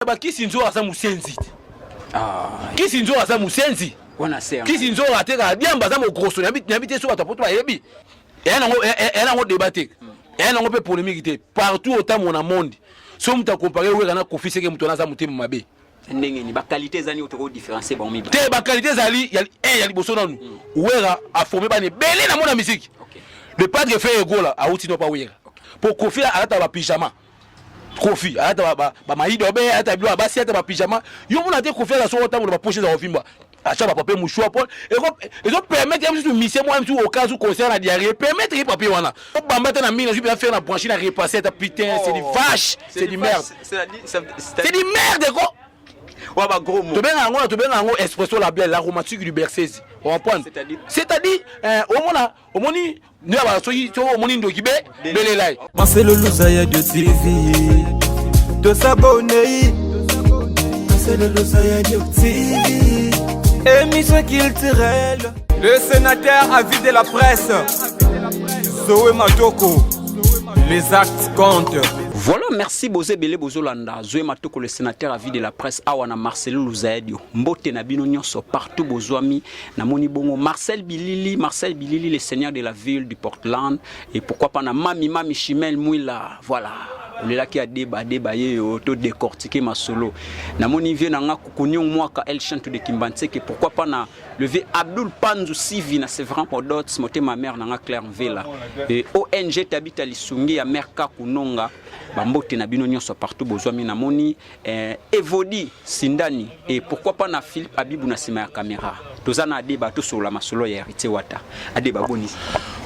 ba kisi nzo aza musenzi ah kisi nzo aza musenzi wana se kisi nzo ateka diamba aza mo grosso na bit na bit so bato poto ba yebi ya nango ya nango débat te ya nango pe polémique te partout au temps mon monde so muta comparer wera na kofi seke mutu na za mutema mabe ndenge ni ba qualité ezani otoko différencier ba omi te ba qualité ezali ya eh ya liboso nanu mm. wera a formé ba ne belé na mona musique le padre fait egola a outi no pa wera po kofi alata ba pyjama kofi ayata bamayido abe ayata bilo abasi ayata bapijama yo mona te kofi aza soko ntango na bapoche eza kovimba atia bapapier mouchoir po ezo permettre ye mosusu misie mwa mosusu okas ou concert na diarrhie permettre ye papier wana obamba te na mingi nazwi mpenza faire na branche na repasse ata putain c'est du oh. vache c'est du merde c'est du merde ko wa ba gros mots tobenga yango tobenga yango espresso la belle la romantique du bercese on comprendre c'est-à-dire c'est-à-dire euh, omona omoni ndio bana soki to omoni ndoki be belela ye Marcelo Luza ya Dio TV to s'abonner Marcelo Luza ya Dio TV émission culturelle le sénateur a vie de la presse Zoé Matoko les actes comptent Voilà, merci Bozé Belé Bozolanda, Zoé Matoko, le sénateur à vie de la presse, Awana Marcelo Luzaedio, Mbote Nabino Nyoso, partout Bozoami, Na moni bongo Marcel Bilili, Marcel Bilili le seigneur de la ville du Portland et pourquoi pas na Mami Mami Chimel Mouila. Voilà. olelaki adeba adeba ye yo to décortiquer masolo na moni vie na nga kukunyong mwaka el chanto de kimbanseke pourquoi pas na le vieux Abdul Panzu Sivi na Sevran Podots motema mère na nga Claire Mvela et ONG Tabita Lisungi ya mère Kakunonga bambote na bino nyonso partout bozwami na moni eh, Evodi Sindani et pourquoi pas na Philippe Abibou na sima ya caméra toza na adeba tosola masolo ya Heritier Wata adeba boni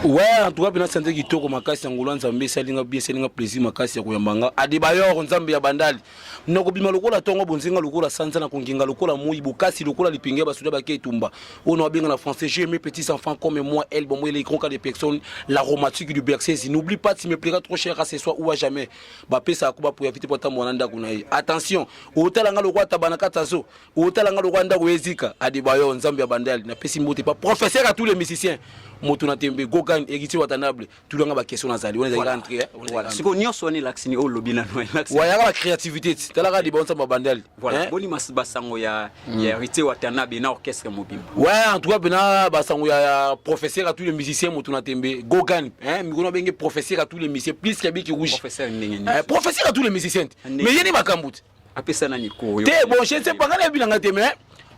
ouais en tout cas pena santé kitoko makasi ya ngolo nzambe esalinga bien esalinga plaisir makasi ya koyamba nga adeba yoro nzambe ya bandali nakobima lokola tongo bonzinga lokola sanza na kongenga lokola moi bokasi lokola lipenge ya basoda bake etumba oyo na babenga na français j'ai mes petits enfants comme moi elle bon moi les grands cas des personnes l'aromatique du bercés n'oublie pas tu me plairas trop cher à ce soir ou à jamais bapesaka kuba po ya vite po atambola na ndako na ye attention otala nga lokola tabana kati ya zo otala nga lokola ndako ezika adebayo nzambe ya bandali napesi mbote pa professeur à tous les musiciens moto na tembe gogan héritier watanable tulanga bakestion nazali wana ezali entre sikoyo nyonso wana elakisi ni oyo olobi nano elakisi wayaka ba créativité ti talaka adebayo nzambe ya bandali Voilà, hein? boni mas basango ya mm. ya héritier Watanabe na orchestre mobimba. Ouais, en tout cas bena basango ya, ya professeur à tous les musiciens mutu na tembe. Gogan, hein, mikona benge professeur à tous les musiciens plus qu'il biki rouge. Professeur ndenge ni. Eh, professeur à tous les musiciens. Mais yeni makambut. Apesa na niko yo. Te bon, je ne sais pas ngana bilanga te mais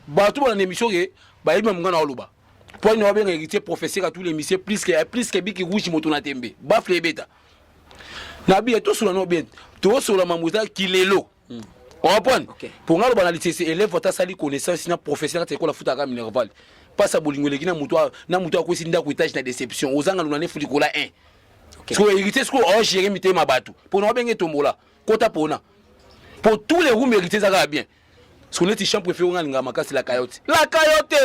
bato ba na émission ke ba yeba mungana oloba. Po ni wabenga héritier professeur à tous les musiciens plus que plus que biki rouge mutu na tembe. Ba flebeta. Na bi to sula no bien. To sula mamuza kilelo. hmm. orapone okay. mpo nga loba na lisese elève ata asali connaissance na professeur kati ekola futaka minerval mpasi ya bolingo eleki na moto akwesi ndako etage na déception ozanga luna nefu likola 1 okay. sikoyo héritier sikoyo ogere mitema bato mpo na wabenge tombola kota pona mpo tous les roum héritier ezaka ya bien siko neti champ préféré nga linga makasi la cayote la cayote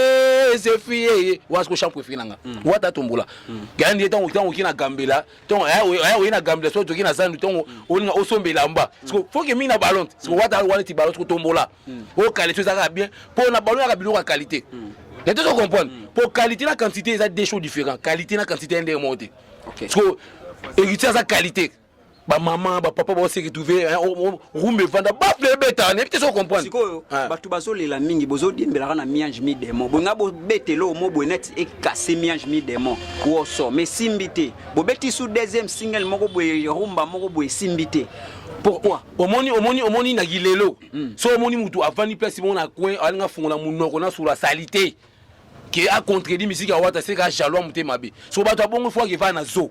c'est fille wa siko champ préféré nanga hmm. wata tombola hmm. gandi tango tango kina gambela ntongo aya eh, eh, oye na gambia soki toki na zandu ntongo mm. olinga osomba elamba mm. siko foke mingi na ballon te siko mm. wata wana ti ballon siko tombola o qualité eza kaka bien mpo na ballon yaka biloko ya qualité ya te tocomprendre mpo qualité na quantité eza deux choses différent qualité na quantité ya ndenge moko te siko héritier aza qualité bamama bapapa baoseretrouve rumba evanda bafle ebetaka nayebi te so comprendre sikoyo ah. bato bazolela mingi bozodiembelaka na miange mi demo bolinga bobetela omo boye neti ekase miange mi demo woso ma esimbi te bobeti su deuxième single moko boye rumba moko boye esimbi te pourquoi omoni omoni omoni na gilelo hmm. so omoni motu avandi place moko na coin alinga fungola monoko na sura salite ke acontredit misiki ya wata seka jalois motema mabe so bato abongo fo akevaa na zoo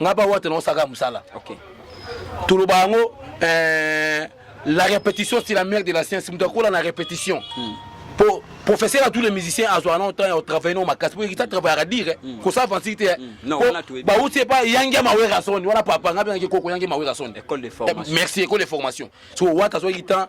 nga ba wata na saka musala okay toloba yango euh, la répétition c'est la mère de la science moto akola na répétition hmm. po professeur ya tous les musiciens azwaka na otan ya otravaille no makasi po ekita travaillaka dire hmm. kosa avansi te hmm. po bauti epa yangi ya mawerasoni wana papa nga bengaki koko yangi ya mawerasoni eh, merci école de formation so wata azwaki temps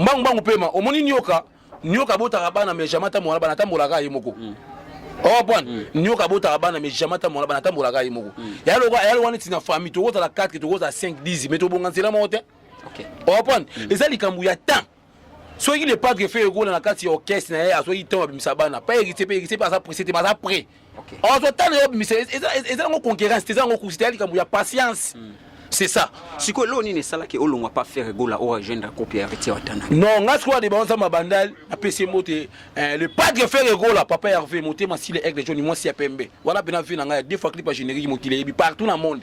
mbangu mbangu pema omoni nioka nioka abotaka bana mais jamais ata mwana bana atambolaka ye moko mm. owa oh, pwana mm. nioka abotaka bana mais jamais ata mwana bana atambolaka ye moko mm. ya loka ya loka neti na famille tokozala 4 tokozala 5 10 mais tobonga nzela moko te owa oh, pwana mm. eza likambo ya temps soki le padre fe ekola na kati ya orchestre na ye asoki ntango abimisa bana pa héritier pe héritier pe aza presse te mais aza prêt okay. ozo tala yo bimisa eza ngo concurrence eza ngo kusita likambo ya patience mm. c'est ça sikoyo eloko nini esalaki olongwa pa faire gola oyo agendre akopi ya heritier watana non nga sikoyo ade baonza mabandal apesi yango te eh, le padre faire gola papa herve motema sile aigle joni mwasi ya pembe wana mpena vie na ngai ya deux fois clip ya générique mokili eyebi partout na monde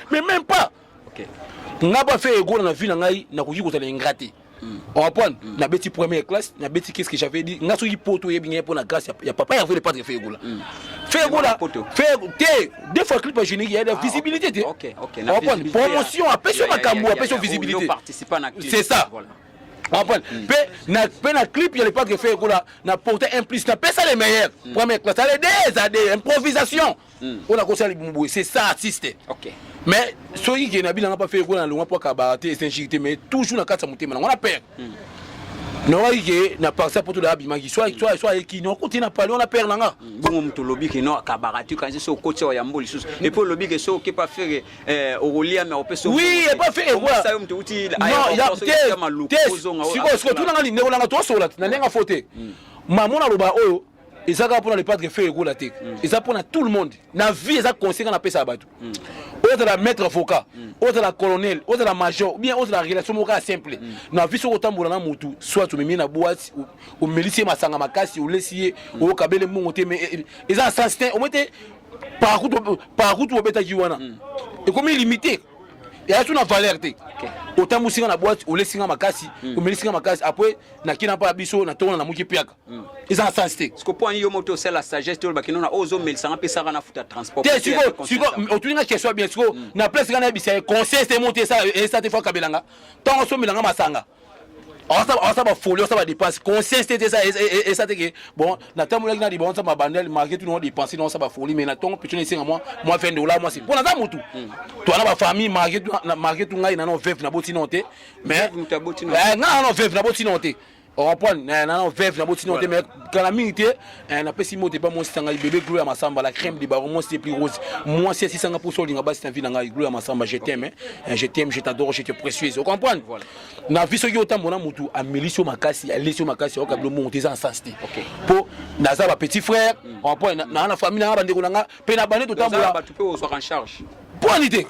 mais même pas okay. nga ba fait ego na vie na ngai nakoki kozala ingrat te hmm. orapone mm. nabeti première classe nabeti qu'est ce que j'avais dit nga soki poto oyebi ngai mpo na grâce ya, ya papa yavele patre fe egola mm. fe egola fe te deux fois clip agénique ya ah, visibilité okay. te okay. okay. orapone promotion apesi yo makambo apesi yo visibilité c'est ça voilà. apone mpe mpe na clip ya lepak efe ekola na porte un plus na pesa le meilleur première classe ale des ade improvisation hmm. oyo nakosala libumu boye c'est ça artiste okay. mais soki ke nabi nanga pafe ekola na longwa mpo akabaka te esenshiki te mais toujours na kati ya motema nango na pere hmm. naoki ke na parti poto da abimaki so ayeki naokuti na pali wana pere nanga hmm. bongo moto olobi ke no akabaka te kanisi so okoti awa yambo lisusu epo olobi ke so oke pa fere eh, okolia me opesa oui epa fere ekosa yo moto uti te sikoyo sikoyo tunanga lindeko nanga tosola na ndenge fo te mama ona loba oyo eza kaka mpona le padre feu ekola te eza mpona tout le monde na vie eza conseil nga napesa ya bato ozala maître avocat ozala colonel ozala major ou bien ozala relation moko ya simple na vie soki otambola na motu soit omemi ye na boite o- omelisi ye masanga makasi olesi ye okabele mbongo te mais eh, eza na sens te omoi te parakutu obetaki wana ekomi limite yaya so na valeur te otambusi nga na boite olesi nga makasi omelisi nga makasi apres nakina mpa ya biso na tongo na namuki piaka eza na sens te siko mpo yo moto osala sagesse toloba kino na ozomelisanga mpesaka na futa transport te siko siko otuni nga question bien siko mm. na place nga nayebisa ye conseil te moto esala te fo akabelanga ntango osomelanga masanga awasa bafoli awasa badepense conscience te te esa te ke bon natambolaki na libonza mabandel marke tuni wa depense na awasa bafoli mai na ntongo petoni esenga mwa mwa 20 dola mwasi mpo naza motu hmm. toana bafamille marke tu ngai nano veve naboti nao te mais eh, ngai nano veve naboti nao te orapone eh, nano veve naboti nao te me kala mingi te eh, napesi moto epa mwasi tanga bebe glo ya masamba la crème de baron mwasi te plus rose mwasi asisanga mposa olinga basi na vi na ngai glo ya masamba je t'aime eh, je t'aime je t'adore je te précieuse ocomprendre na vi soki otambo na motu amelisi yo makasi alesi yo makasi ayoka bilo mongo te eza na sens te mpo naza bapetit frère mm. orapone naa na famille nanga bandeko na nga mpe na bande totambola mpo ani te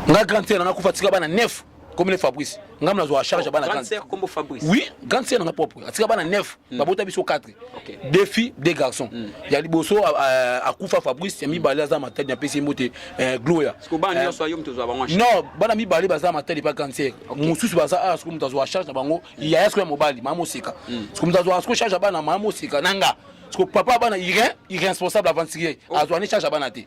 nga grande sere nanga kufa tika bana neuf comme les Fabrice ngam na zo charge bana grande sœur comme Fabrice oui grande sœur na propre atika bana 9 hmm. ba bota biso 4 deux filles deux garçons hmm. ya liboso akufa Fabrice ya mibale aza matadi na pesi mbote euh, Gloria ce que bana euh, nyoso yo mtu zo bango non bana mibale baza matadi pa grande sœur mususu baza a ah, ce que mtu zo charge na bango hmm. ya yasko ya mobali mama sika ce que mtu zo asko charge bana mama sika nanga ce que papa bana irresponsable aventurier azwani charge bana te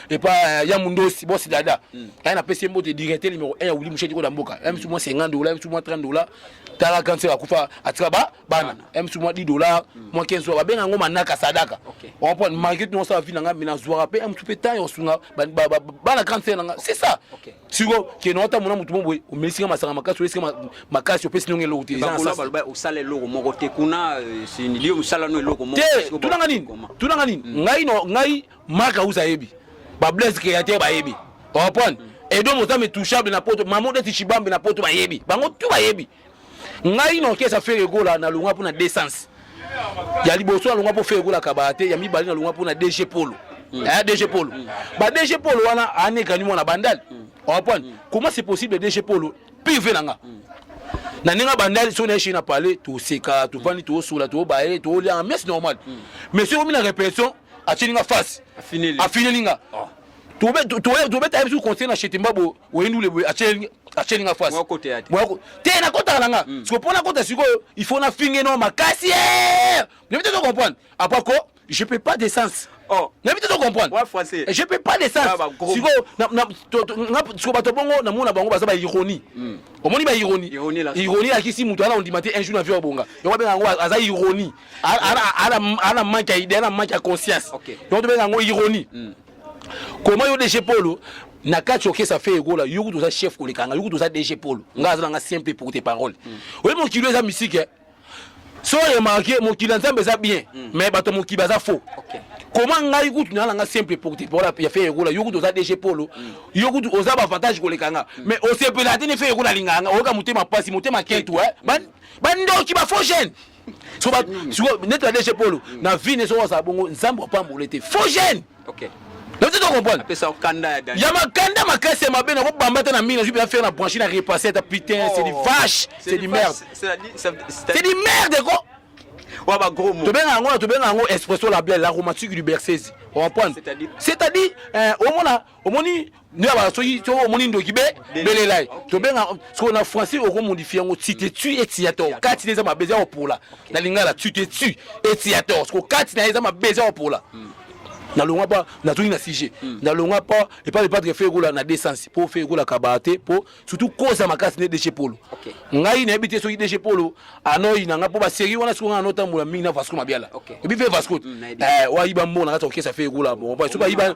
epa euh, ya mundosi bosi dada hmm. aya napesi ye mbote directe numero 1 ya wili musheti koda mboka ya misu mwa 50 dola ya misu mwa 30 dola tala kanse akufa atika ba bana ya misu mwa 10 dola hmm. mwa 15 dola babenga yango manaka sadaka okomprendre malgré tout nosala vi na ngai mina zwaka mpe ya misu mpe temps yosunga bana kanse na ngai c'est ça siko kende otamona motu mo boye omelisi nga masanga makasi oyesi nga makasi opesi ndongo eloko te osala eloko moko te kuna euh, liyo mosala no eloko moko te tunanga nini tunanga nini hmm. ngai ngai Marc Ausa ayebi. Ba Blaise Createur bayebi. Orpone. Edo Mozambe touchable na poto. Maman Desi Chibambe na poto bayebi. Bango tout bayebi. Ngai na orchestre Ferre Gola na longwa pona descente. Ya liboso na longwa po Ferre Gola kabate, ya mibali na longwa pona DG Polo. Mm. Eh, DG Polo. Mm. Ba DG Polo wana anekani mwana bandal. Mm. Orpone. Mm. Comment c'est possible DG Polo? Pive nanga. Mm. na ndenge abandaki soki nayeshi na palais toseka tovandi toosola toobaye toolia mais normal mais soki omi na répétition atini nga face afineli nga ah. tobeta ye bisu conseil na chete mbabo oyendule boye atyeli nga face te nakotaka na nga siko mpo nakota sikoyo il faut nafinge no makasi nayebi te to comprendre apres ko je peux pas d'essence oh. nayebi te to comprendre je peux pas d'essence ah, sikoyo siko bato bongo namona bango baza baironie hmm. omoni baironie ironie alakisi moto ana ondima te un jour na vie obonga yango abenga yango aza ironie ana manque ya idée ana manque ya conscience donc tobenga yango ironie hmm. koma yo dg polo na kati okesa fe egola yo kutu oza chef koleka nga yo kutu oza dg polo nga aza na nga simple pour tes paroles hmm. oyebi mokili eza misike eh? so remarke mokili ya nzambe eza bien hmm. mais bato ya mokili baza faux koma ngai kutu naa na nga simple pour tes paroles ya fe egola yo kutu oza dg polo yo kutu oza bavantage koleka nga mais osepela te ne fe egola alingaka nga oyoka motema mpasi motema kentu eh? bandoki bafaux jeune soba siko neti na DG Polo hmm. na vie ne soba za bongo nzambe opambole te faux jeune okay ozo to comprendre apesa okanda ya dani ya makanda makasi ya mabe nako bamba ta na mingi nazwi pena faire na branche na repasser ta putain c'est du oh. vache c'est du merde c'est du merde quoi wa ba gros mots tobenga yango na tobenga yango espresso la belle la romantique du bercese on comprendre c'est-à-dire c'est-à-dire euh, omona omoni nde abala soki soki omoni ndoki be belela ye tobenga soko na français okomodifie yango tu te tu eti ya toro kati na eza mabezi ya kopola na lingala tu te tu eti ya toro soko kati na eza mabezi ya kopola hmm. nalonga mpa nazongi na sujet hmm. nalonga mpa epai epatre fe ekola na desense mpo fe ekolaka baa te mpo surtout koza makasi nde deshe polo ngai nayebi te soki deshe polo anoi na ngai mpo baserie wana soki ngai anotambola mingi na vasco mabiala oyebi fe vasco hmm, eh, oayiba mbongo na kati ya kokesa fe ekola soki ayiba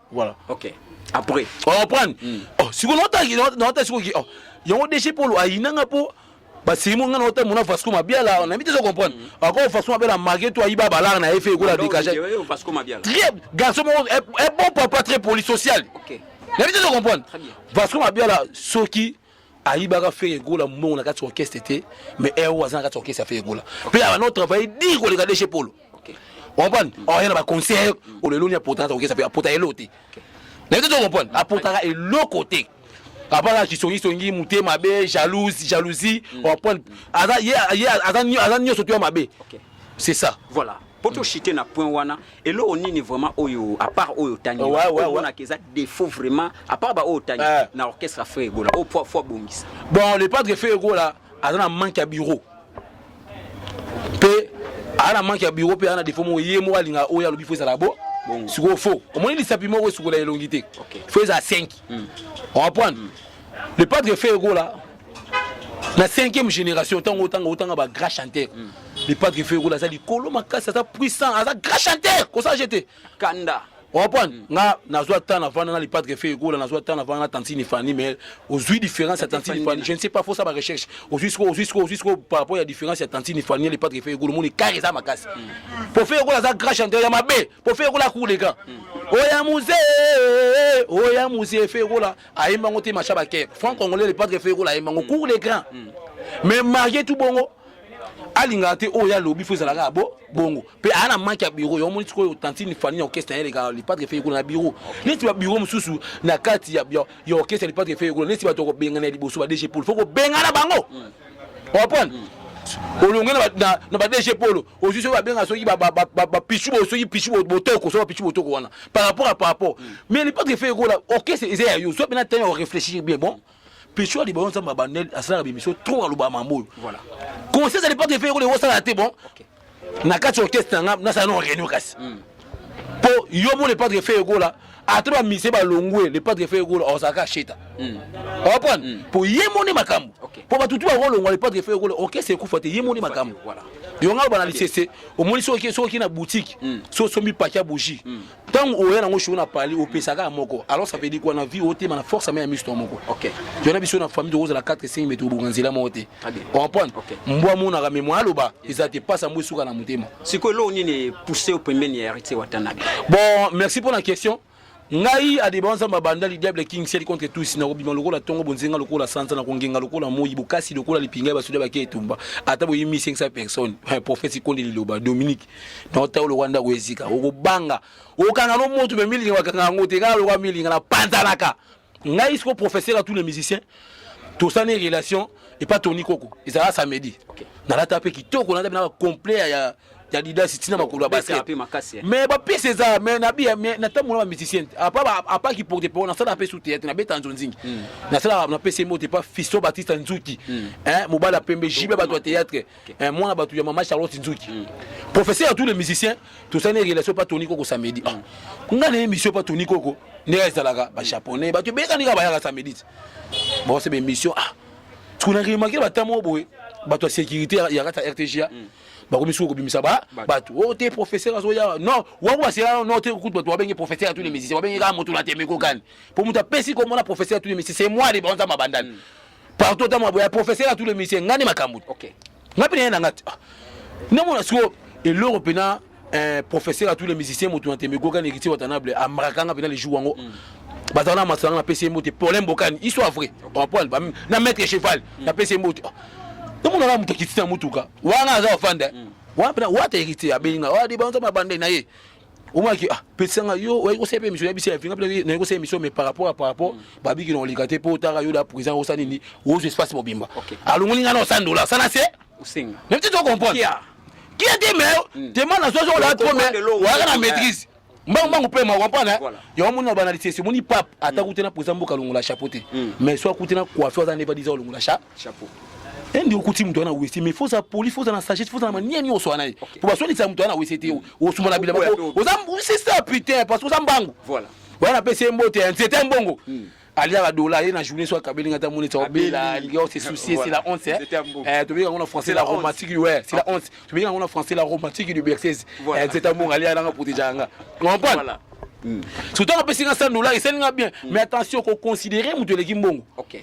voilà ok après on reprendre hmm. oh siko nota nota siko ki oh yango déchet polo ayinanga po basimo nga nota mona Vasco Mabiala on invite à comprendre hmm. encore Vasco Mabiala marqué toi iba balar na effet ko la dégager Vasco Mabiala très garçon un bon papa très poli social ok na invite à comprendre Vasco Mabiala soki ayibaka Ferre Gola mbongo na kati orchestre te mais eo aza na kati orchestre ya Ferre Gola mpe aba no travaille dire koleka deshe polo comprendre oya na baconcert oleloni apota na orchestre mpe apota eloko te naye te tocomprendre apotaka eloko te apaka kisongisongi mote mabe jalouse jalousie comprendre aza nyonso to ya mabe c'est ça voilà po to chite na point wana eloko nini vraiment oyo à part oyo tangi ouais, ouais, ouais. na keza défaut vraiment à part ba oyo tangi euh. na orchestre Ferre Gola au poids fois bongisa bon le padre Ferre Gola aza na manque ya bureau pe aza na manque ya bureau pe aza na défaut mo ye mo alinga oyo alobi faut ezala bo sikoyo fo omoni lisapi moko esukola elongi te fo eza 5 on va prendre le padre Ferre Gola na cinquième génération ntango otanga otanga ba grand chanteur le padre feu ekola aza likolo makasi aza puissant aza grand chanteur kosala je te kanda orepondre mm. nga nazwa temps navanda na lipadre fe egola nazwa temps navanda na tantine fani mais ozwi différence ya tantine fani je ne sais pas fosa ba recherche ozwi siko ozwi siko ozwi siko par rapport ya différence ya tantine fani ya lipadre fe egola omoni kare eza makasi mm. po fe egola aza grand chanteur ya mabe po fe egola akour le grand mm. oya musee oya musee fe egola ayembi yango te macha baker franc congolais le padre feu ekola ayembi yango mm. cour de grand mm. mais marie tout bongo alingaka te oyo alobi fo ezalaka ya bo bongo mpe aya na manke ya biro yo omoni sikoyo tantine fani ya orchestre na ye eleka lipatre fe ekola na biro neti babiro mosusu na kati ya orchestre ya lipatre fe ekola neti bato kobengana ya liboso ba dg pol fo kobengana bango mm. oprendre mm. olonge na ba dg polo ozwi soki babenga soki bapichu soki pichu botoko soki bapichu botoko wana par rapport à par rapport mm. mais lipotre efe ekola orchestre eza ya yo soki mpena tani orefléchir bien bon pichu ya libayo nzambe abanel asalaka bimisio trop aloba mambo oyo conscience ya lipotre efe ekola ekosala te bon na kati ya orchestre na nga nasala no réunion kasi mm. po yo mo le padre fe egola ata ba mise ba longwe le padre fe egola ozaka sheta mm. opon mm. po ye moni makambo okay. po batutu ba longwa le padre fe egola okay se kufa te ye moni makambo voilà yo ngai bana lisese omoni soki soki na boutique mm. so osombi paki ya bougie mm. ntango oya nango shoo na pali opesaka ya moko alors ça veut dire quoi na vie otema na force ame ya misto moko yona biso na famille tokozala 4 5 mais tobonga nzela moko te comprendre mbwa amonaka mais mwa aloba eza te pasi yango esuka na motema sikoyo eloko nini epousse yo pembeni ya héritier watanabe bon merci mpo na question ngai adeba nzambe abanda lidiable king seli contre tous nakobima lokola ntongo bonzenga lokola sanza nakongenga lokola moi bokasi lokola lipinga ya basoda bake etumba ata boyimi 500 personnes eh, prophète sikonde liloba dominique naotao lokola ndako ezika okobanga okanga no moto me milinga bakanga yango te kaka lokola milinga napanzanaka ngai siko professeur à tous les musiciens tosani relation epa toni koko ezalaka samedi okay. nalata mpe kitoko nalata mpe na bacomplet ya ya didasi ntina makolo ya basket mais bapesi eza mais nabiya mais natambola ba musicien apa kiporte po nasalaka mpe su théâtre nabeta nzo nzingi hmm. nasalaka napesi mbote pa fisto batista nzuki hmm. mobali ya pembe jibe bato ya théâtre eh, mwana bato ya mama charlotte nzuki mm. professeur ya tous les musiciens tosali relation pa toni koko samedi ah. nga na émission pa toni koko ndenge ezalaka bajaponais bato ebeyekani kaka bayaka samedi bose baémission ah tukuna remarke batamo oyo boye bato ya sécurité ya kati ya rtga mm. bakomi soki kobimisa bato o oh, te professeur azoya non wango basela no te kutu bato babenge professeur ya tous les musiciens babenge kaka moto na temeko kani mpo moto apesi komona professeur ya tous les musiciens c'est moi de banza mabandani mm. partout ta maboya professeur à tous les musiciens ngani makambu OK ngapi na ngati ah. na mona siko eloro pena un professeur à tous les musiciens moto na tembe goka nekiti watanable amrakanga pena les jours yango mm. bazala na masanga na pesi mbote problème bokani histoire vrai en point ba na maître cheval na mm. pesi mbote na mona na mutakiti na mutuka wana aza ofanda mm. wana pena wata héritier abenga wa de banza mabande na ye omaki ah pesa nga yo oyebi kosala mpe émission yebisi ya finga mpe nayebi kosala émission mais par rapport par rapport mm. babiki na oleka te mpo otaka yo da présent osala nini ozo espace mobimba alongoli nga na osala dola sana se osenga même ti to comprendre qui a dit mais demande na soso ola trop mais waka na maîtrise mbangu mbangu mpe ma comprendre hein? yango moni na banalisesi omoni pape ata mm. kuti na présent mboka alongola chapeau te mm. mais so akuti na coiffe aza nde badisa olongola cha chapeau ende okuti moto wana wese mais foza poli foza na sagesse foza na mania nyonso wana ye po baswanisa moto wana wese te osuma na bilamba oza c'est ça putain parce que oza mbangu voilà wana apesi ye mbote ya nzete mbongo hmm. aliaka dola ye na journée so akabeli nga ta moni tsa obela alingi ose oh, soucier c'est la honte eh tobi yango na français la romantique ouais c'est la ah. honte tobi yango na français la romantique du berceuse eh nzete mbongo aliaka nanga proteja nga comprendre hmm. surtout apesi nga 100 dollars esali nga bien hmm. mais attention ko considérer moto eleki mbongo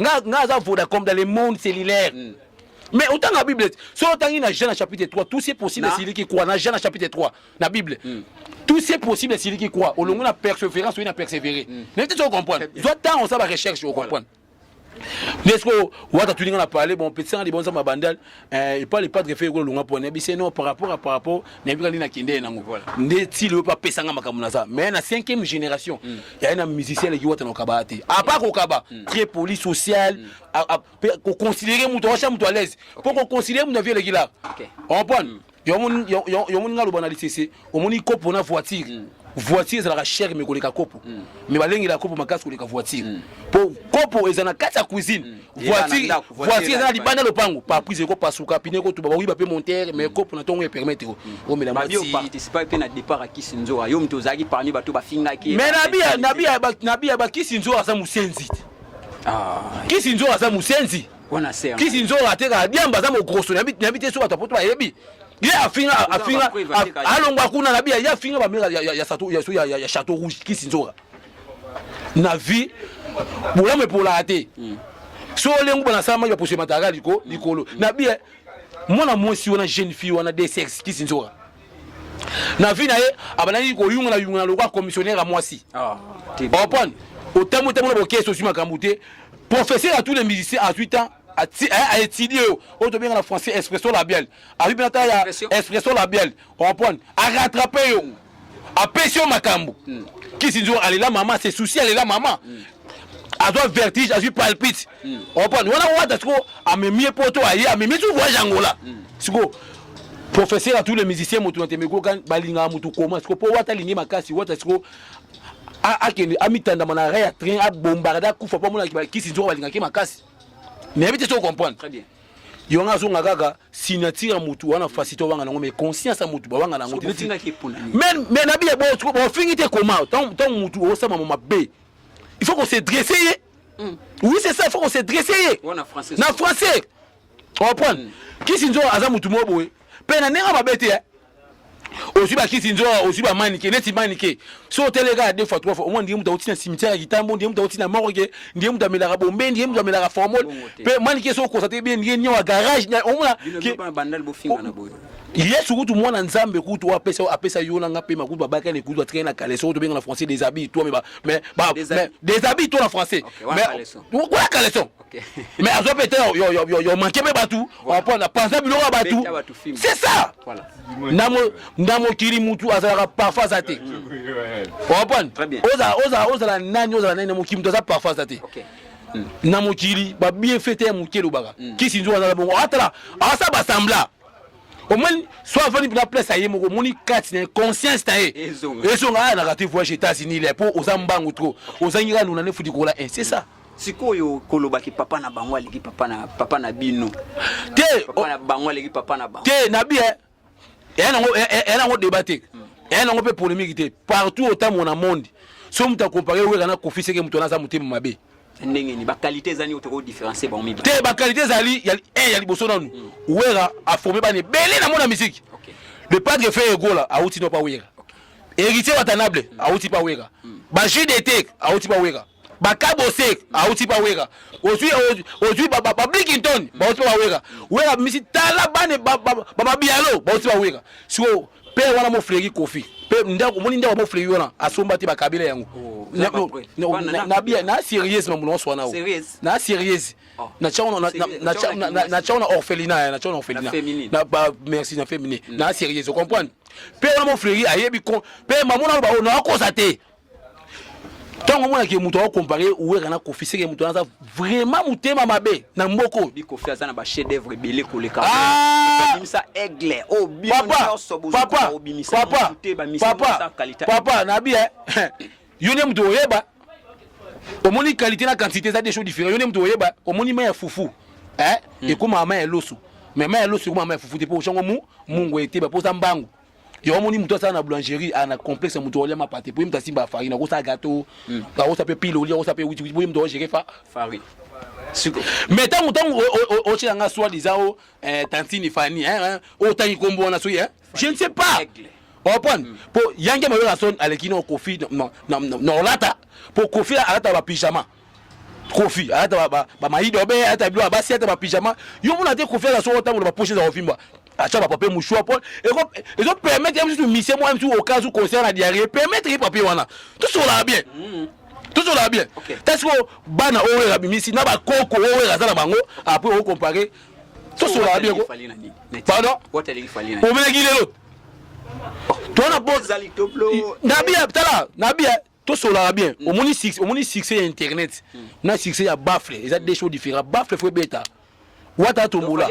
nga nga aza Vodacom dans le monde cellulaire mm. mais otanga bible so otangi na jean na chapitre 3 tout c'est possible esiliki kwa na jean na chapitre 3 na bible mm. tout c'est possible esiliki kwa olongo na persévérance oyi na persévérer mm. mais te ocomprendre zwa ntango osala barecherche ocomprendre nde sikoyo wata tuninga na pale bon petisa nga libonza mabandal eh, epa le padre fe ekolonga mpo nayebi se no par rapport à par rapport nayebi kani nakende nango nde ti lelo mpe apesanga makambo naza mais na cinquième génération mm. yaye na musicien eleki wata na kokaba te apa kokaba mm. très poli social mpe mm. koconsidere moto awacha moto à l'aise mpo koconsidere moto avi eleki la comprendre yomoni nga loba na lisese omoni kopo na voiture mm. voiture ezalaka chere me koleka kopo mm. me balengela kopo makasi koleka voiture mm. po kopo eza na kati ya cuisine voiture eza na libanda lopango paprise ekopasuka pine ekotuba bakoyiba mpe montere me kopo na ntongo epermete omelanabiya bakisi nzoka aza mosenzi ah. kisi nzoka aza mosenzi wana se kisi nzonga atekaka diamba aza mogroso na bite te so bato apoto bayebi ye afinga afinga alongwa kuna na biya ye afinga bamela ya chateau rouge kisi nzonga na vie bolamu epolaka te hmm. so olengu bana sala mai baposo emataka likolo na biya mwana mwasi wana jeune fille wana de sexe kisi nzonga na vie na ye abandaki koyungana yungana lokola commissionnaire ya mwasi ah, opone otambo otambo na bokesi ozwi makambo te professeur ya tous les musiciens azwi temps aétudie oyo oyo tobenga na français expression labiale azwi mpe ata ya expression labiale opone arattrape yo apesi yo makambo hmm. kisi nzongo alela mama se souci alela mama hmm. azwa vertige azwi palpite mm. opani wana wata siko amemie poto aye amemie tu voyage angola mm. siko professeur à tous les musiciens moto na temeko kan balingaka moto koma siko mpo wata alingi makasi wata siko akende amitandama na rai ya train abombaka da kufa mpo amonaki bakisi nzoko balingaki makasi nayebi te so comprendre très bien yo nga azonga kaka signature ya motu wana fasi to wanga nango mais conscience ya motu bawanga nango te mais na biye bofingi te koma ntango motu osama mo mabe il faut ko se dresse ye mm. oui c'est ça il faut qu'on se dresse ye oh, na français na français comprendre mm. kisi nzo aza mutu moko boye mpe na ndenge mabe te eh. ozwi bakisi nzo ozwi bamanike neti manike so otele kaka deux fois trois fois omoi ndenge moto auti na cimetière ya kitambo ndenge moto auti na morgue ndenge moto amelaka bombe ndenge moto amelaka formol mpe manike so okosa te bie ndenge nio ya garage omona yesu kutu mwana nzambe kutu apesa apesa yo na nga mpe makutu babakani kutu atikali na kaleso oyo tobenga na français des habits toi mais ba Des mais des habits to na français Okay, wana mais caleçon. wana caleçon Okay. mais azo pete yo yo yo yo manquer pe batu Voilà. on na penser biloko ya batu Beta batu film. c'est ça Voilà. na mo na mokili mutu azalaka parfois aza te comprendre Très bien. ozala ozala ozala nani ozala nani na mokili mutu aza parfois aza te Okay. na mokili ba bien fete ya moke elobaka kisi nzoko azala bongo atala asala basambla omoni so afandi mpena place aye moko omoni kati na conscience na ye ezonga aya na rate voyage états-unis le mpo oza mbangu trop ozangi kaka nuna nefuti kola un c'est ça sikoyo kolobaki papa na bango aleki papa na papa na bino te papa na bango aleki papa na bango te na bien eya nango eya nango débat te hmm. eya nango mpe polémique te partout otamona monde so moto akompare wera na kofi seke moto wana aza motema mabe ndenge ni ba qualité eza nini toko différencier bango mibale te ba qualité ezali ya eh ya liboso nanu mm. wera a formé ba ne belé na mona musique okay. le padre fait egola a outi no pa wera okay. héritier watanable mm. a outi pa wera mm. ba jus d'été a outi pa wera ba kabose a outi pa wera ozui ozui ba ba blikington ba outi pa wera wera misi tala bane ba ba ba bialo ba outi pa wera so pe wana mo fregi kofi pe ndako moni ndako mo fregi wana asomba te bakabela yango oh, na bien na sérieuse mamu na swana na sérieuse oh. na chao na na na chao na orphelinat na chao na orphelinat na ba merci na féminin mm. na sérieuse comprendre pe wana mo fregi ayebi ko pe mamu na ba ona akosa te ntango omonaki moto akokompare wera na kofi seke moto aza vraiment motema mabe na mboka oyo bikofi aza na bachef d'œuvre ebele koleka ah! obimisa aigle oyo oh, bino nyonso bozokoka obimisa motu te bamisamosa kalita papa nabi eh, yo nde moto oyeba omoni qualité na quantité eza des choses différent yo nde moto oyeba omoni mai ya fufu eh, hmm. ekomaka mai ya loso mais mai ya loso ekomaka mai ya fufu te mpo oshango mu mungu eteba mpo oza mbangu yo omoni moto asala na boulangerie aa ah, na complexe moto olia mapate po ye moto asimba farine akosala gato hmm. akosa mpe pile olia akosa mpe witiwiti po ye moto ogere fa farine mais ntango ntango otyela nga soi disant o eh, tantine fani otangi nkombo wana soki je ne sais pas opone mpo hmm. yange mayola son aleki na kofi na olata mpo kofi alata bapijama kofi ayata bamayido abe ayata bilo abasi ayata bapijama yo mona te kofi aza soko ntango na bapoche eza kovimba atia bapapier mouchoir po ezo permettre ye mosusu misie mwa mosusu oka zu concert na diarrie permettre ye papier wana tosolaka bien mm. tosolaka bien ta sikoyo bana oyo wera abimisi na bakoko oyo wera aza na bango apres okompare tosolaka bien pardon omelaki lelo tona bo nabi tala nabi tosolaka bien mm. omoni succès omoni succès ya internet mm. na succès ya bafle eza deux choses différents bafle fo ebeta wata atombola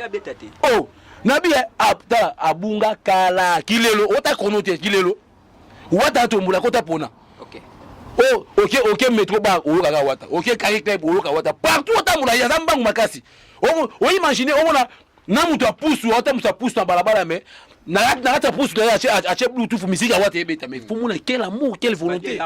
oh nabi eh, apta ah, abunga kala kilelo ota kono te kilelo wata atombola kota pona okay. oh oke okay, okay, metro ba oyokaka wata oke okay, caricleb oyoka wata partout otambola ye aza mbangu makasi oimagine omona na moto ya pusu atambusa pusu na balabala me na kati ya pusu naye atie bluetooth miziki yango ate ebeta me fomona quel amour quelle volonté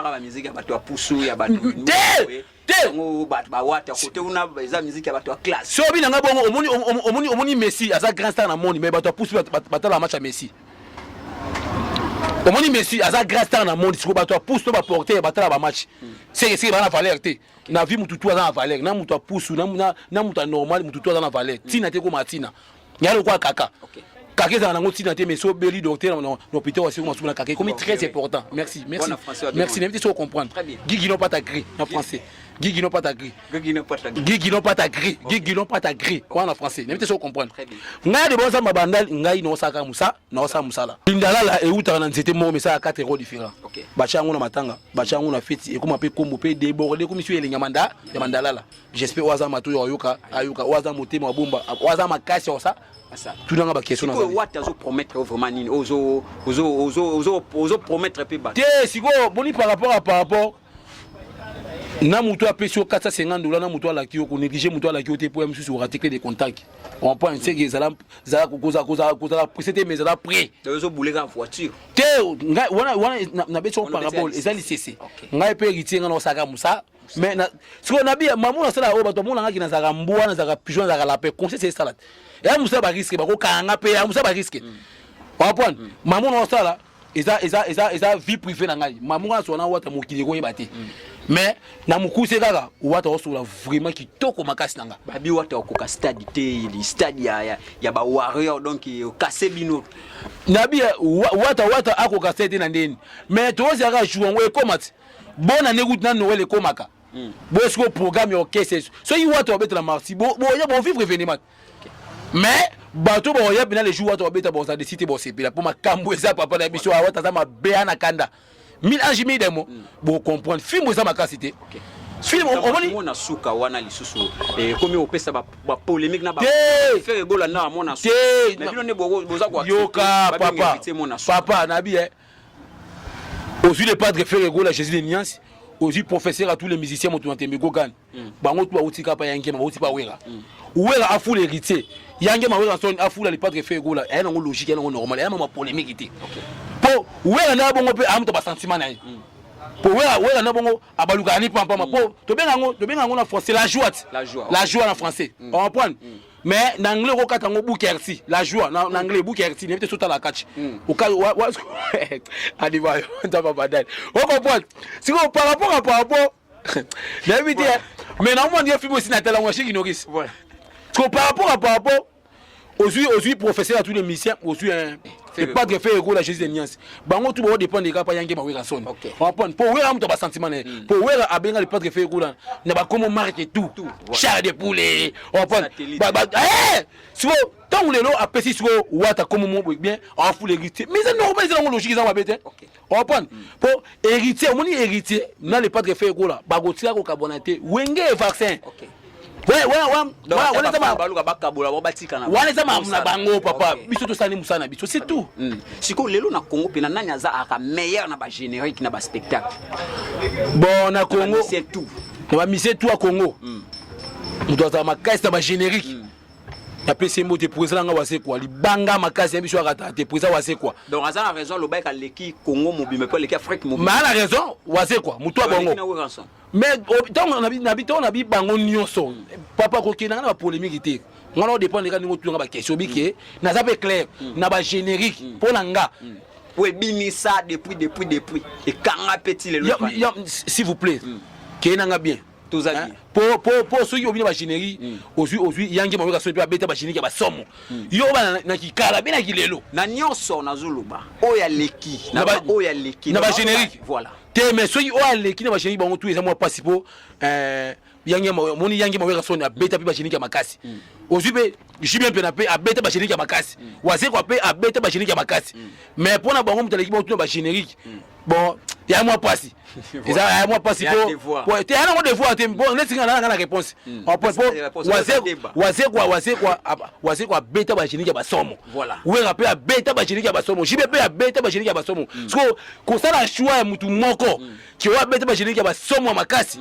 sobi na ngai bongo omoni messi aza grand star na moni me bato ya pusu batalaka match ya messi omoni messi aza grand star na moni sikoyo bato ya pusu to baporter batala bamatch sekeseke bana valeur te na vie mutu tu aza na valeur na mutu apusu na, na, na mutu anormal mutu tu aza na valeur mm. tina te ekoma tina yalo kwa kaka okay. kaka ezala nango ntina te mais so obeli docteur na hôpital ya seko masuku na kaka ekomi très important merci merci merci nayebi te so ocomprendre gigi no pata gris na français gigi no pata gris gigi no pata gris gigi no pata gris wana na français nayebi te so ocomprendre ngai de bozamba bandal ngai naosalaka mosa naosala mosala lindalala eutaka na nzete moko misala 4 ero différent batya yango na matanga batya yango na feti ekoma mpe nkombo mpe deborde ekomi sio elengi ya manda ya mandalala j'espère oyo aza matoi ayoka ayoka oyo aza motema abomba oyo aza makasi ya kosa tunanga baquestion nawate azopromettre yo vraiment nini ozopromettre mpe bato te sikoyo boni par rapport a par rapport na moto apesi yo 450 dola na moto alaki yo konéglige moto alaki yo te mpo ya mosusu oratikle de contact comprendre seke ezala kozala presse te mais ezala près te wana nabeti yango parabole eza lisese ngai mpe héritier ngai naosaka mosa mais sikoyo nabi mamu nasala oyo bato bamonangaki nazalaka mbwa nazalaka pigeon nazalaka lapin conseil se esala te ya mosala bariske bakokanga mpe ya mosala bariske wapwani mamu naosala eza eza eza eza vie privée na ngai mamunga na sona wata mokili ekoyeba te mm. mais na mokuse kaka wata osola vraiment kitoko makasi na nga babi wata okoka stade te li stade ya ya, ya ba warrior donc okase bino nabi eh, wata wata akoka stade te na ndeni mais tozi aka jour ngo ekoma ti bona ne route na noel ekomaka mm. boye siko programme ya orchestre soki wata obetela marsi bo bo ya bo vivre événement mais bato bakoya mpena le jour wata babeta bakozala desi te bosepela mpo makambo eza papa na biso awata aza mabe ana kanda mille ange mille demo mm. bocomprendre fimbo eza makasi te okay. film omoni mona suka wana lisusu ekomi eh, opesa ba polemique na ba faire gola na mona suka mais bino ne boza kwa yoka papa papa na bi eh ozui le padre faire gola Jésus de Niance ozui professeur à tous les musiciens moto na tembe gogane mm. bango tu bauti kapa ya ngema bauti bawera mm. wera afula héritier ya ngema wera son afula lipatre fe egola aya nango logique ya nango normal aya mama polémique te mpo wera na ya bongo mpe aya moto basentiment na ye mm. mpo wera wera na bongo abalukaka ni pampama mpo mm. tobenga yango tobenga yango na français la joie la joie na français mm. oamprendre mm. mais na anglais okokata yango bukerti la joie na, na anglais bukerti nebi te sotala kaci hmm. adivayo ntaba badali okopoite sikoyo par rapport a par rapport nayebi te mais na omoni film osi natala ngo ashiki nokisi ko par rapport à par rapport ozwi ozwi professeur ya tous les musiciens ozwi epadre fe ekola jésus de niance bango tu baodépendre kaka mpa yange bawera soni wapone mpo wera moto ya basentiment na ye mpo hmm. wera abenga le padre fe ekola na bakomo marke tout char de poulet wapone eh! siko ntango lelo apesi siko wata komo mo bien afule egri te mais eza normal eza nango logique eza mabe te opan mpo héritier omoni héritier na le padre fe ekola bakotika kokabwana te wenge e vaccin okay. wana eza makambo na bango papa biso tosali mosala na biso c'est tout mm. sikoyo lelo na congo mpena nani aza aka meilleur na bagénérique na baspectacle bon na congo na bamisie tout ya congo mm. moto azala makasi na bagénérique mm. napesi ye mbote president nanga wasekwa libanga makasi ya biso akata te president wasekwa donc aza na raison aloba eke aleki congo mobimba mpe aleki afrique mobimba maa na raison wasekwa motu ya bongo mais ntango ntango na bibango nyonso papa kokenda nga na bapolemiki te nga na odépendre kaka ndenge otulanga baquestion bike naza mpe clair mm. na bagénérique mpo mm. na nga mm. po ebimisa depuis depuis depuis ekanga mpe ti lelo s'il vous plaît keye na nga bien tozali po po po soki obina ba générique hmm. ozui ozui yangi mayoka soki ba beta ba générique ya ba somo hmm. yo ba na kikala bina kilelo na nyoso na zuluba oya leki na ba oya leki na ba générique voilà te mais soki oya leki na ba générique bango tout eza mwa pasi po euh yangi moni yangi mayoka soni abeta pe ba générique ya makasi hmm. ozui pe jibien pena pe abeta ba générique ya makasi wazekwa pe abeta ba générique ya makasi mais pona bango mutaleki ba tuna ba générique bon ya mwa pasi eza ya mwa pasi po te yana ngo devoir te bon neti nga nanga na réponse hmm. en point po wazekwa wazekwa wazekwa wazekwa beta ba cheniki ya basomo wenga pe abeta ba cheniki ya basomo jibe pe abeta ba cheniki ya basomo hmm. siko kosala choix ya mutu moko hmm. ki oyo abeta ba cheniki ya basomo ya makasi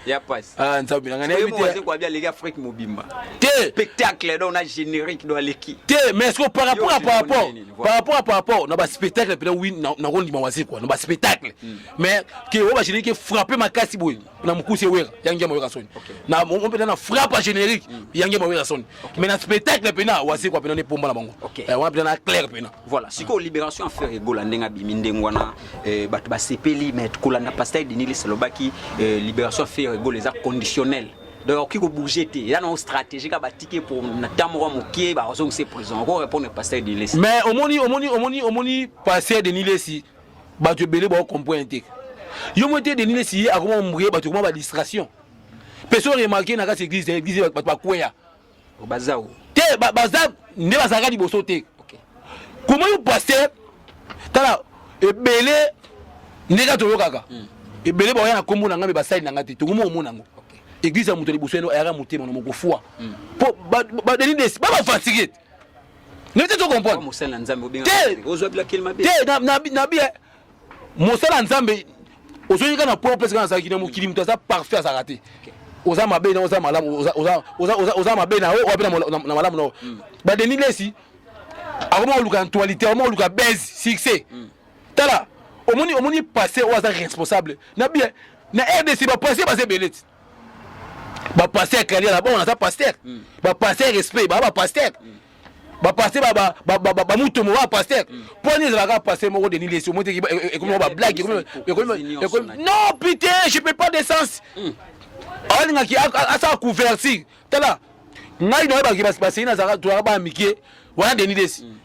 ya pasi ah nzambe nanga na yebi te kwa bia leki afrique mobimba te spectacle donc na générique do aleki te mais est-ce que par rapport à par rapport par rapport à par rapport na ba spectacle pena oui na ko ndima wazi quoi na ba spectacle hmm. mais que o ba générique frapper makasi boye na mukuse wera yangia moyo kasoni na on pena na frappe générique hmm. yangia moyo kasoni mais na spectacle pena wasekwa pena nde pomba na bango okay. eh, wana pena na claire pena voilà sikoyo libération affaire egola ndenge abimi ndenge wana eh, bato basepeli mais kolanda pasteur denilis alobaki eh, libération affaire egola eza conditionnel donc okoki kobouge te eza nango stratégie ka batike po na temps moko moke bazongisa prison oko répondre pasteur denilesi mais omoni omoni omoni omoni pasteur denilesi bato ebele baokomprene te yo moko te denilesi ye akoma ombuye bato ekoma badistraction mpe so remarke na kati eglise eglise bato bakweya oh, bazao te baza nde bazalaka liboso te koma yo paster tala ebele nde kaka toyokaka hmm. ebele baoya na nkombo na ngai mpe basali na ngai te tokomi omona yango eglise ya moto liboso yano ayaka motema na moko foi mpo hmm. badeni desi babafatike te nete tocomprendre te nabi mosala nzambe ozoyika na point opesaka nazalaki na mokili moto aza parfait azalaka te oza mabe na oza malamu oza mabe na yo wapi na malamu na yo mm. badeni lesi akoma koluka actualité akoma koluka base succès mm. tala omoni omoni passé oyo aza responsable na bien na rdc bapassé baza ebele ti ba pasteur kali na bon naza pasteur mm. ba pasteur respect ba ba pasteur mm. ba pasteur ba ba ba ba, ba, ba mutu mo ba pasteur mm. poni za ka pasteur moko de nilesi o moteki e comme ba blague e comme e comme e comme non pitié je peux pas de sens mm. alinga ki asa couverture tala ngai na ba ki ba pasteur na za ka tu ba mikie wana de nilesi mm.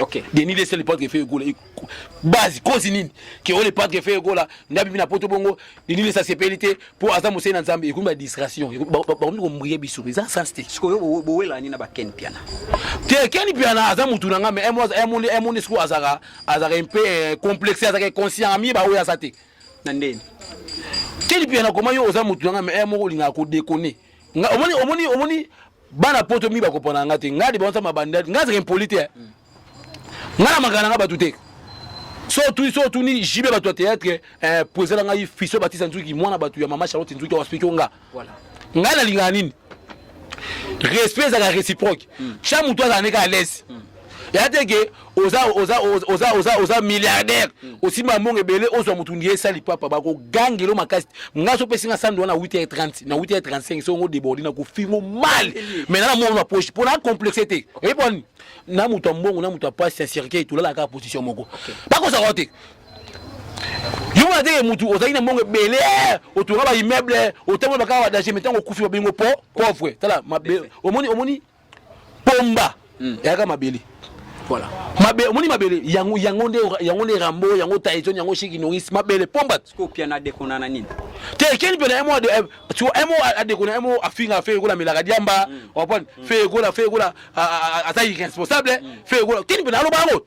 Okay. Denis Leslie Lepard Gefe Egola base kozi nini ke o Lepard Gefe Egola ndabi bina poto bongo Denis Leslie asepeli te po aza mosei na Nzambe ekomi ba distraction bakomi kombriye biso eza sans te sikoyo bowela nini na ba Ken Piana te Ken Piana aza mutu na nga mais emo emo emo ne sikoyo azaka azaka un peu euh, complexe azaka conscient ami ba oyo aza te na ndeni Ken Piana koma yo oza mutu na nga mais emo olingaka ko déconner nga omoni omoni omoni bana poto mi bakopana nga te nga de bansa mabanda nga zaka impoli te nga na makana nga bato te so otuni so otuni jibe bato ya théâtre eh, po ezala ngai fiso batisa nzuki mwana bato ya mama charlotte nzuki waspiki o nga ngai nalingaka nini respect ezalaka réciproque cha moto azala ndeka à l'aise ya te ke oza oza oza oza oza milliardaire hmm. osimba mbongo ebele ozwa motu ndiye esali papa bakogangelo makasi ngai so opesi nga sando wana 8h30 na 8h35 so ngo deborde na kofingo mal mais na moko na poche mpo na complexe te oyebi boni na moto ya mbongo na moto ya pasi ya cercueil tolalaka kaka position moko bakozaka te yo wana te motu ozalaki na mbongo ebele otonga ba immeuble otambola bakaka badanger mais ntango okufi babengo po pauvre tala omoni omoni pomba hmm. eyaka mabele voilà mabe omoni mabele yango yango nde yango nde rambo yango taizon yango shiki noris mabele pomba siko pia na dekona na nini te keni pia na emo ade eh, tu emo adekona emo afinga fe ekola melaka diamba hmm. opon hmm. fe ekola fe ekola aza irresponsable fe ekola keni pia na loba yango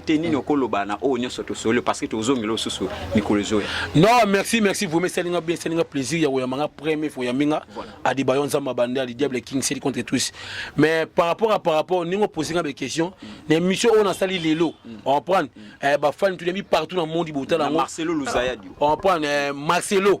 te nini okoloba na oyo nyonso tosolo parce que tozongela osusu mikolo ezoya non merci merci vraiment esali nga bien esali nga plaisir ya koyamba nga premier fois oyambi nga adiba yo nzambe abande ali diable king seli contre tous mais par rapport à par rapport ndenge opose nga baquestion na émission oyo nasali lelo comprendre bafani toyambi partout na monde botala yango marcelo luzayadi comprendre marcelo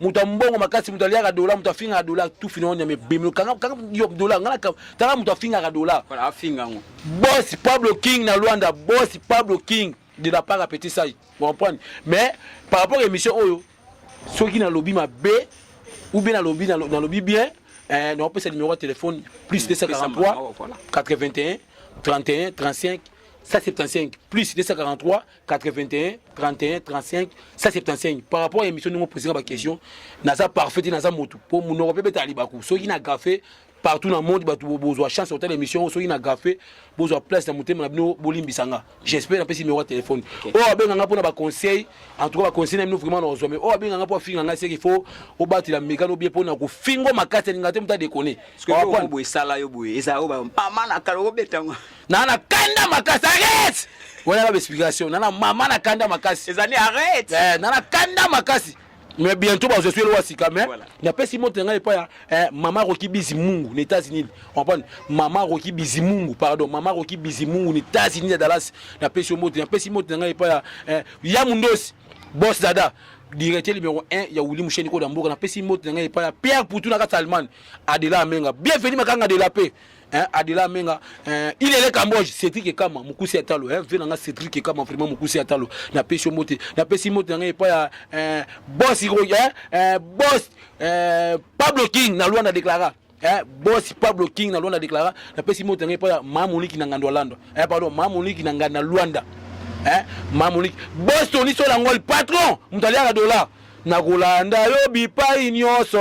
moto ya mbongo makasi moto aliaka dola moto afingaka dola tufi na onyama ebemelo kanga dola ngana tanga moto afingaka dola boss pablo king na luanda boss pablo king de la part ya petit sai comprendre mais par rapport ya émission oyo soki nalobi mabe ou bien nalobi nalobi bien eh, naopesa numéro ya téléphone plus 243 81 31 35 175 plus 243 81 31 35 175 par rapport ya émission ndenge opesaka baquestion naza parfait te naza motu mpo monoko mpe betala libaku soki na gafe partout na monde bato bozwa chance kotala émission oyo soki na gafe bozwa place na motema na bino bolimbisa nga j'espère napesi numéro ya telefone oyo abenga nga mpo na baconseil en tout cas baconseil na bino vraiment nakozwa mais oyo abenga nga mpo afinga nga seke fo obatela mekano bie mpo na kofingo makasi alinga te moto adekone esala yo boye ezala oyo bamama na kala okobetango na na kanda makasi arrête wana na explication na na mama na kanda makasi ezali arrête eh na na kanda makasi mais bientôt ba je suis loin sika mais na pesi moto ngai pa eh mama roki bizimungu na États-Unis on parle mama roki bizimungu pardon mama roki bizimungu na États-Unis Dallas na pesi moto na pesi moto ngai pa eh ya mundosi boss dada directeur numéro 1 ya wuli musheni ko da mboka na pesi moto ngai pa Pierre Poutou na kati Allemagne adela amenga bienvenue makanga de la paix hein, Adela Menga, hein, il est le Cambodge, Cédric Ekama, Mokusi Atalo, hein, vieux nanga Cédric Ekama, vraiment Mokusi Atalo, na pesi mote, na pesi mote nanga epa ya hein, boss Hiro, hein, hein, boss hein, Pablo King na Luanda déclara. Hein, boss Pablo King na Luanda déclara, na pesi mote nanga epa ya Mamoniki na Ngandwa Lando. Hein, pardon, Mamoniki na Ngandwa Luanda. Hein, Mamoniki. Boss Tony Solangol, patron, mutaliaka dollar. Na kolanda yo bipai nyoso.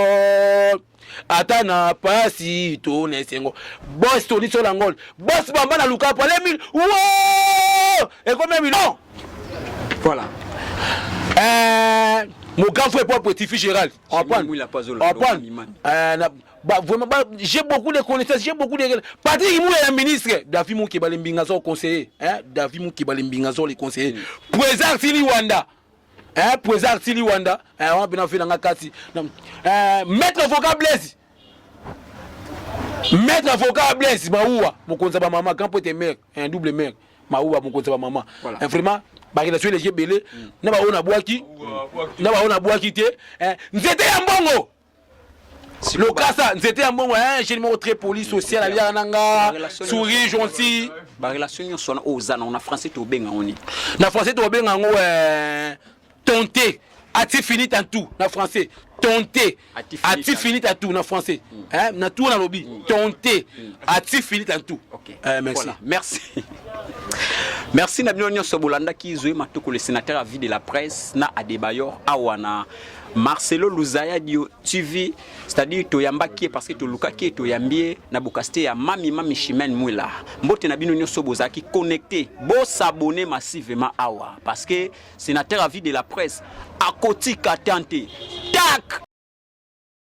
ata na pasi to na esengo bos toniso na ngol bos bamba na lukapo alemi ekomemi non voilà euh, mon grand frère pour petit fils Gérald apprendre euh, bah, vraiment bah, j'ai beaucoup de connaissances j'ai beaucoup de Patrick Mouya la ministre David Mouki Balimbingazo conseiller hein David Mouki Balimbingazo les conseillers mm. président Sili Wanda eh pweza artili wanda eh wana pena fela nga kati eh maître avocat blaise maître avocat blaise maua mokonzi ba mama grand pote mère un double mère maua mokonzi ba mama voilà. eh, vraiment ba relation eleki ebele mm. na ba ona bwaki na ba ona bwaki te eh nzete ya mbongo lokasa nzete ya mbongo ya jeune moko très poli social aliaka na nga souris gentil barelation nyonso wana oyo oza nango na français tobenga yango nini na français tobenga yango euh, tonte ati fini tantou na français tonte ati fini tantou na français hmm. na tour nalobi hmm. tonte hmm. ati fini tantou euh, merci merci merci na bino nyonso bolandaki zoe matokole sénateur ya vie de la presse na adebayor awa na Marcelo Luzaya Dio TV, c'est-à-dire toyambaki parce que tolukaki toyambie na bokasite ya Mami Mami Chimène Mwila. Mbote na bino nyoso bozaki connecté, bo s'abonner massivement awa parce que sénateur à vie de la presse akotika tante. Tac